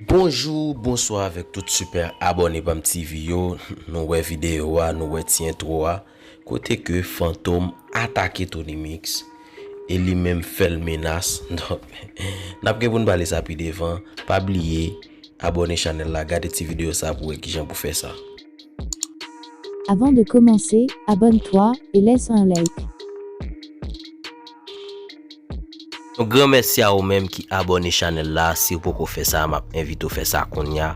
Bonjou bonswa avèk tout super abòne pam TV yo nou wè video a nou wè ti entwo a kote ke fantom atake Tony mix e li menm fèl menas donk nap gen poun pale sa pi devan pa bliye abòne chanèl la gade ti video sa pou wè kijan pou fè sa. Avant de commencer, abonne toi et laisse un like. Yon gran mèsi a ou menm ki abòne chanèl la, si ou poko fè sa map envite ou fè sa kounya,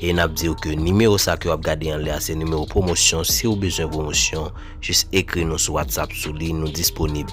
e nap diw ke nimewo sa ke wap gade anlè a se nimewo pwomosyon, si ou bezwen pwomosyon jis ekri nou sou WhatsApp sou li nou disponib.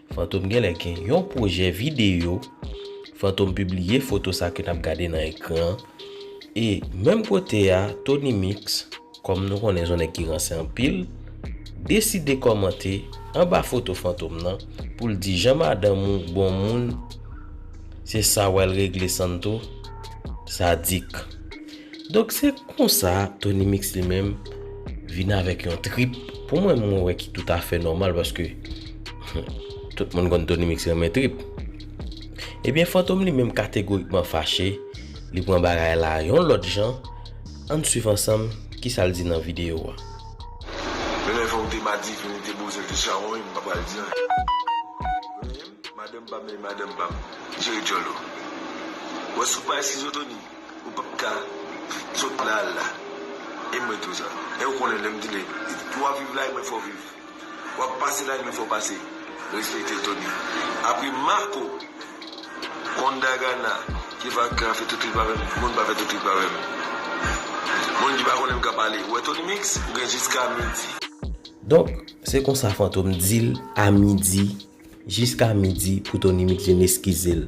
Fantom genlè gen yon pwojè videyo, Fantom pibliye foto sa ke nap gade nan ekran an, e menm kote a Tony Mix, kòm nou konnen son nèg ki ranse anpil, deside kòmante anba foto Fantom nan pou l di jan madanm ou bon moun se sa wè l regle Santo, sadik. Donk se konsa Tony Mix li menm vin avèk yon trip pou mwen mwen wè ki tout afè nòmal paske tout moun konn Tony Mix renmen trip. Ebyen Fantom li menm kategorikman fache, li pran bagay la yon lòt jan, ann swiv ansanm kisa l di nan videyo a. Lèlè fòk de madivin li te boze'l te chawony m pa pral di anyen Renmen'm madanm pa'm e madanm pa'm jere djòl ou Wè sou pay sizo Tony. Ou pap ka sot la al la. E mwen tou sa. Ew konnen lem di neg pou wap viv la e mwen fow viv. Wap pase la e mwen fow pase. Respekte Tony. Apre Marco Kon Dagana ki vakan fe tout trip avem moun pa fe tout trip avem. Moun ki pa konnenm ka pale. Ou we Tony Mix ou gen jiska midi. Donk se konsa Fantom dil a midi. Jiska midi pou Tony Mix vin eskize l.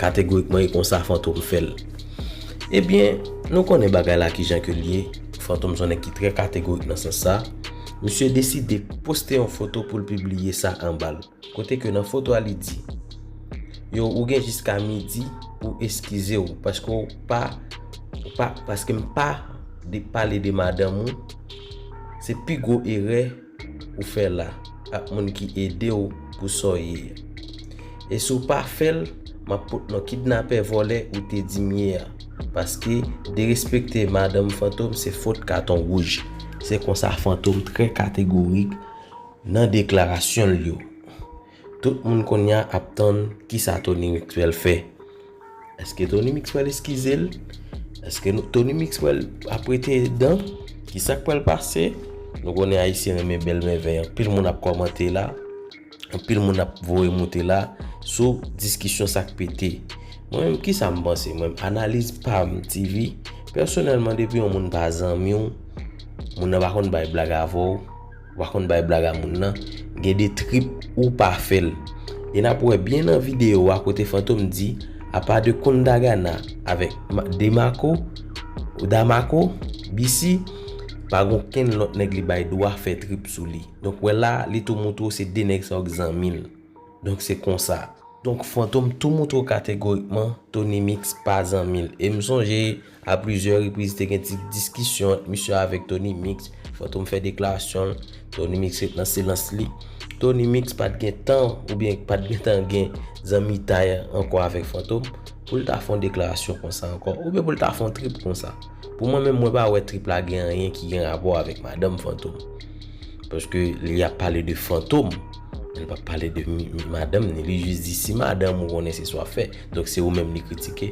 Kategorikman e konsa Fantom fè l. Ebyen, nou konnen bagay la kijan ke l ye, Fantom son nèg ki trè kategorik nan sans sa, misye deside poste yon foto pou l pibliye sa anba l, kote ke nan foto a li di, Yo ou gen jiska midi pou w eskize w paske w pa, w pa, paske m pa pale de madanm ou, se pi gwo erè, ou fè la ak moun ki edew pou Saw ye a e si w pa fèl map pot non kidnapè vòlè ou te dim ye a paske derespekte madanm fantom se fot katon wouj se konsa fantom trè kategorik nan deklarasyonl yo. Tout moun konnya ap tann kisa Tony Mixwell fè. Eske Tony Mixwell eskize l? Eske Tony Mixwell ap rete dan? Kisa k pral pase? Nou konnen Ayisyen renmen bèl mèvèy. Anpil moun ap kòmante la. Anpil moun ap voye moute la sou diskisyon sa k pete. Mwen menm kisa m panse mwen? Analiz pa m TV. Pèsonèlman depi yon moun pa zanmi w, moun nan pa konn bay blag avè w. Ou pa konn bay blag a moun nan. Gen de trip ou pa fel. E nap we byen nan video a kote Fantom di apa de Kundagana avek Demarco ou Damarco, BC pa gon kenn lot neg li bay dwa fe trip sou li. Donk we la li tou moutre w se de neg sa yo k zanmi l. Donk se konsa. Donk Fantom tou moutre w kategorikman Tony Mix pa zanmi l. E m sonje. A plizyè repriz te gen ti diskisyon ant misye avèk Tony Mix, Fantom fè deklarasyon l, Tony Mix ret nan silans li. Tony Mix pat gen tan oubyen pat gen tan gen zanmitay ankò avèk Fantom pou l ta fè yon deklarasyon konsa ankò oubyen pou l ta fè yon trip konsa. Pou mwen menm mwen pa wè trip la gen anyen ki gen rapò avèk madanm Fantom. Paske li ap pale de Fantom, li pa pale de madanm ni. Li jis di si madanm ou konnen se sa w ap fè, donk se ou menm li kritike.